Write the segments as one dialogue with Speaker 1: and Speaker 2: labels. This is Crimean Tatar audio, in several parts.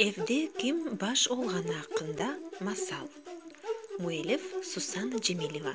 Speaker 1: Evde kim baş olğanı aqqında masal Müellif Susana Cemileva.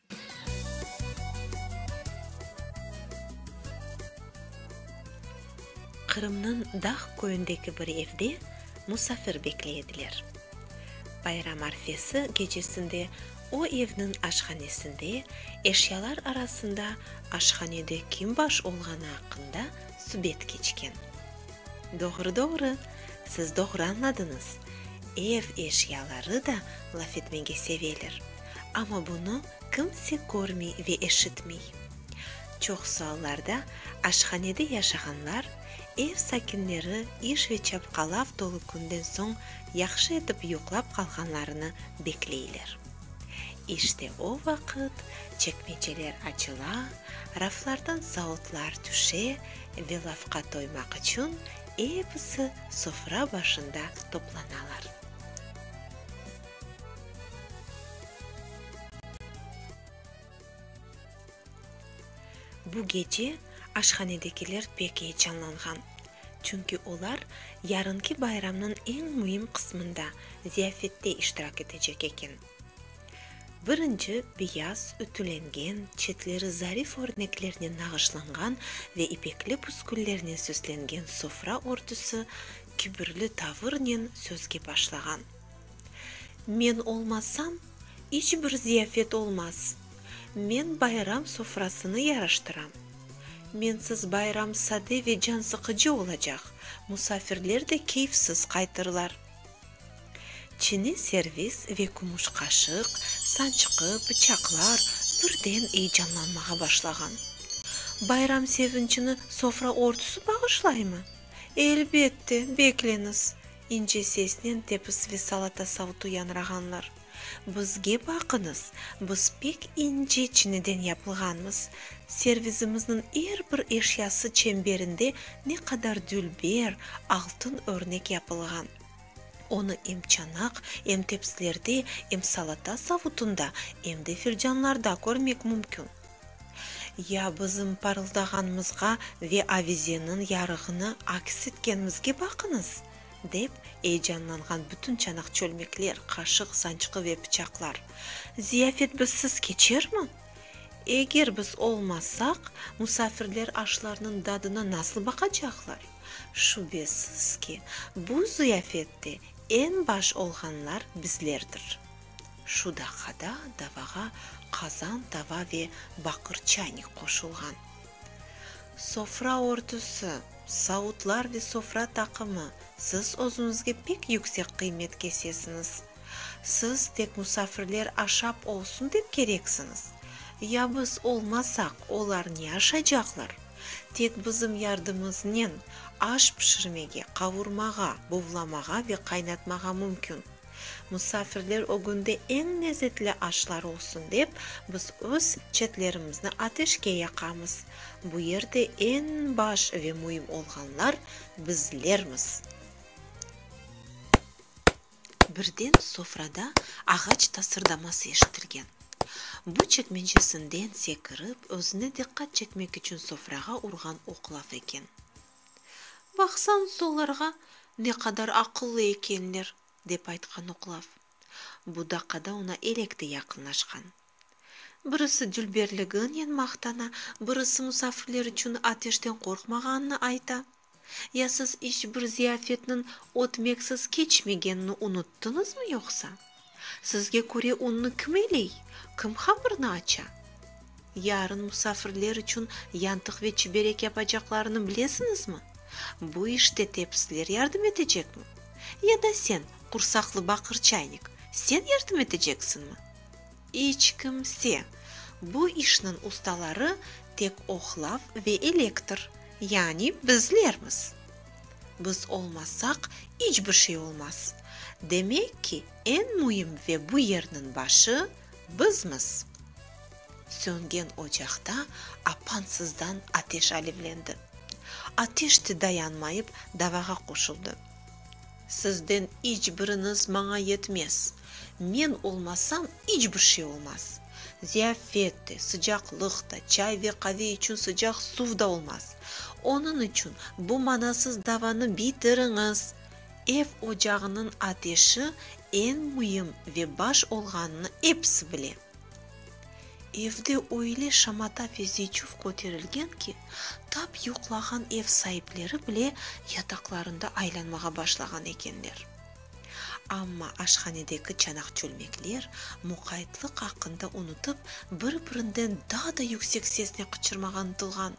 Speaker 1: Qırımnıñ Dağ köyündeki bir evde musafir bekley ediler. Bayram arfesi gecesinde o evniñ aşhanesinde eşyalar arasında aşhanede kim baş olğanı aqqında subet keçken. Doğru-doğru, siz doğru añladıñız, ev eşyaları da laf etmege seveler. amma bunı kimse körmey ve eşitmey. Çoq suallarda aşhanede yaşağanlar, ev sakinleri iş ve çapqalav tolu künden soñ yahşı etip yuqlap qalğanlarını bekleyler. İşte o vaqıt çekmeceler açıla, raflardan sautlar tüşe ve lafqa toymaq içün episi sofra başında toplanalar. Bu gece aşhanedekiler pek eyecanlanğan. Çünki olar yarınki bayramnıñ eñ müim qısmında, ziyafette iştirak etecek eken. Birinci, beyaz, ütülengen, çetleri zarif örneklernen nağışlanğan ve ipekli püsküllernen süslengen sofra örtüsi kibirli tavırnen sözge başlağan. Men olmasam, iç bir ziyafet olmaz. Men bayram sofrasını yaraştıram. Mensiz bayram sade ve cansıqıcı olacaq, musafirler de keyfsiz qaytırlar. Çiniy servis ve kümüş qaşıq, sançqı, bıçaqlar birden eyecanlanmağa başlağan. Bayram sevinçini sofra ortusı bağışlaymı? Elbette, bekleñiz, İnce sesnen tepis ve salata savtu yañrağanlar. Bizge baqıñız, biz pek ince çiniden yapılğanmız, servizimizniñ er bir eşyası çemberinde ne qadar dülber, altın örnek yapılğan. Onı em çanaq, em tepsilerde, em salata savutında, em de filcanlarda körmek mümkün. Ya bizim parıldağanımızğa ve avizeniñ yarığını aks etkenimizge baqıñız! dep eyecanlanğan bütün çanaq-çölmekler, qaşıq, sançqı ve pıçaqlar. Ziyafet bizsiz keçermi? Eger biz olmasaq, musafirler aşlarnıñ dadına nasıl baqacaqlar? Şübesiz ki, bu ziyafette eñ baş olğanlar bizlerdir. Şu daqada davağa qazan tava ve baqır çaynik qoşulğan. Sofra ortusı, savutlar ve sofra taqımı, siz özüñizge pek yüksek qıymet kesesiñiz. Siz tek musafirler aşap olsun dep kereksiñiz. Ya biz olmasaq, olar ne aşacaqlar? Tek bizim yardımımıznen aş pişirmege, qavurmağa, buvlamağa ve qaynatmağa mümkün. Musafirler ögünde eñ lezetli aşlar olsun dep, biz öz çetlerimizni ateşke yaqamız. Bu yerde eñ baş ve müim olğanlar bizlermiz. Birden sofrada ağaç tasırdaması eşitilgen. Bu çekmencesinden sekirip, özüne diqqat çekmek içün sofrağa urğan oq laf eken. Baqsañ solarğa, ne qadar aqıllı ekenler, dep aytqan oqlav. Bu daqada oña elek de yaqınlaşqan. Birisi dülberliginen maqtana, birisi musafirler içün ateşten qorqmağanını ayta. Ya siz iç bir ziyafetniñ ötmeksiz keçmegenini unuttıñızmı yoqsa? Sizge köre unnı kim eyley, kim hamırnı aça? Yarın musafirler içün yantıq ve çiberek yapacaqlarını bilesiñizmi? Bu işte tepisler yardım etecekmi? Ya da sen, qursaqlı baqır çaynik, sen yardım eteceksiñmi? İç kimse! Bu işniñ ustaları tek ohlav ve elektr, yani bizlermiz! Biz olmasaq, iç bir şey olmaz. Demek ki, eñ müim ve bu yerniñ başı, bizmiz. Söngen ocaqta apansızdan ateş alevlendi. Ateş de dayanmayıp, davağa qoşuldı. Sizden iç biriñiz maña yetmez. Men olmasam, iç bir şey olmaz. Ziyafet de, sıcaqlıq da, çay ve qave içün sıcaq suv da olmaz. Onıñ içün bu manasız davanı bitiriñiz. Ev ocağınıñ ateşi eñ müim ve baş olğanını episi bile. Evde öyle şamata ve ziyçuv köterilgen ki, tap yuqlağan ev saipleri bile yataqlarında aylanmağa başlağan ekenler. Amma aşhanedeki çanaq-çölmekler, muqaytlıq aqqında unutıp, bir-birinden daa da yüksek sesnen qıçırmağa ıntılğan.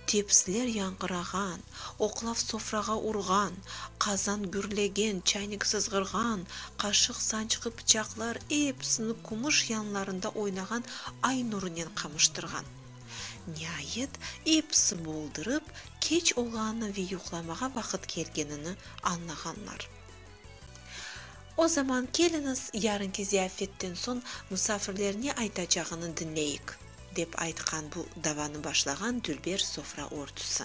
Speaker 1: Tepsiler yañğırağan, oqlav sofrağa urğan, qazan gürlegen, çaynik sızğırğan, qaşıq, sançqı, pıçaqlar, epsini kumış yanlarında oynağan ay nurınen qamaştırğan. Niayet, episi boldırıp, keç olğanını ve yuqlamağa vaqıt kelgenini añlağanlar. O zaman keliñiz, yarınki ziyafetten soñ musafirler ne aytacağını diñleyik, dep aytqan bu davanı başlağan dülber sofra örtüsi.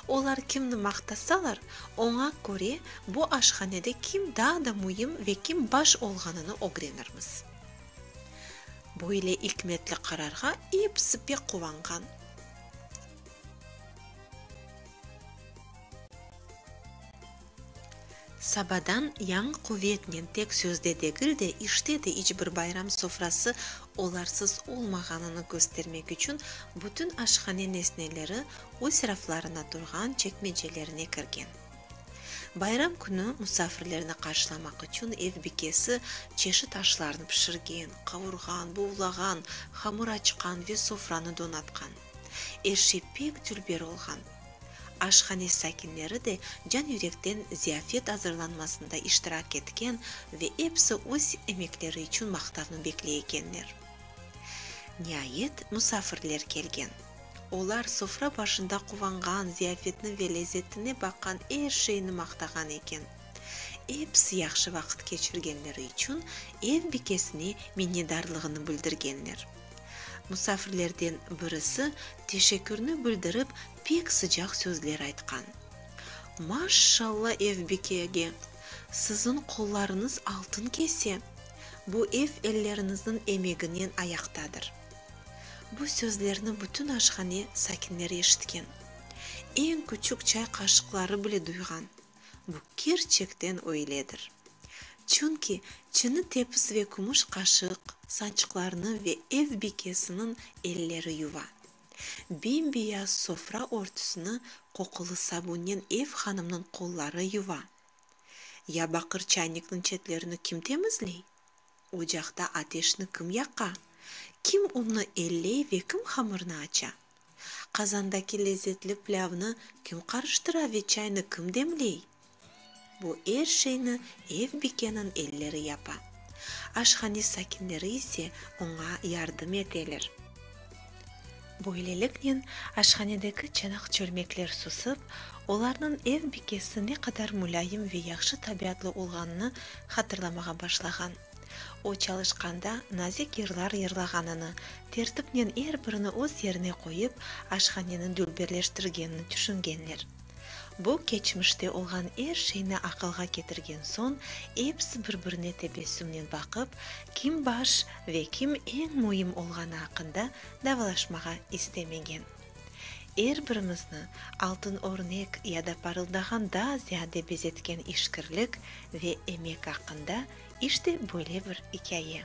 Speaker 1: Olar kimni maqtasalar, oña köre bu aşhanede kim daa da müim ve kim baş olğanını ögrenirmiz. Böyle ikmetli qararğa episi pek quvanğan. Sabadan yañı quvetnen tek sözde degil de, işte de iç bir bayram sofrası olarsız olmağanını köstermek içün bütün aşhane nesneleri öz raflarına turğan çekmecelerine kirgen. Bayram künü musafirlerni qarşılamaq içün ev bikesi çeşit aşlarnı pişirgen, qavurğan, buvlağan, hamır açqan ve sofranı donatqan. Er şey pek dülber olğan. Aşhane sakinleri de can-yürekten ziyafet azırlanmasında iştirak etken ve episi öz emekleri içün maqtavnı bekley ekenler. Niayet, musafirler kelgen. Olar sofra başında quvanğan, ziyafetni ve lezzetine baqan, er şeyni maqtağan eken. Episi yahşı vaqıt keçirgenleri içün ev bikesine minnedarlığını bildirgenler. Musafirlerden birisi teşekkürni bildirip, pek sıcaq sözler aytqan. Maşşalla, ev bikege! Siziñ qollarıñız altın kese! Bu ev elleriñizniñ emeginen ayaqtadır. Bu sözlerni bütün aşhane sakinleri eşitken, eñ küçük çay qaşıqları bile duyğan. Bu kerçekten öyledir. Çünki çini tepis ve kümüş qaşıq, sançıqlarnı ve ev bikesiniñ elleri yuva. Bem-beyaz sofra örtüsini qoqulı sabunnen ev hanımnıñ qolları yuva. Ya baqır çaynikniñ çetlerini kim temizley? Ocaqta ateşni kim yaqa? Kim unnı elley ve kim hamırnı aça? Qazandaki lezzetli plâvnı kim qarıştıra ve çaynı kim demley? Bu er şeyni ev bikeniñ elleri yapa. Aşhane sakinleri ise oña yardım eteler. Böyleliknen, aşhanedeki çanaq-çörmekler susıp, olarnıñ ev bikesi ne qadar mulâyim ve yahşı tabiatlı olğanını hatırlamağa başlağan. O çalışqanda nazik yırlar yırlağanını, tertipnen er birini öz yerine qoyıp, aşhaneni dülberleştirgenini tüşüngenler. Bu keçmişte olğan er şeyni aqılğa ketirgen soñ, episi bir-birine tebessümnen baqıp, kim baş ve kim eñ müim olğanı aqqında davalaşmağa istemegen. Er birimizni altın örnek ya da parıldağan daa ziyade bezetken işkirlik ve emek aqqında işte böyle bir ikâye.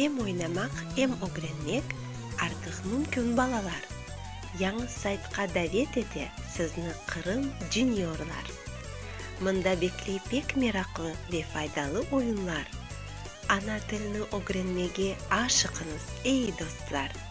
Speaker 1: Em oynamaq, em ögrenmek artıq mümkün balalar. Yañı saytqa davet ete sizni Qırım Juniorlar. Mında bekley pek meraqlı ve faydalı oyunlar. Ana tilni ögrenmege aşıqıñız, ey dostlar!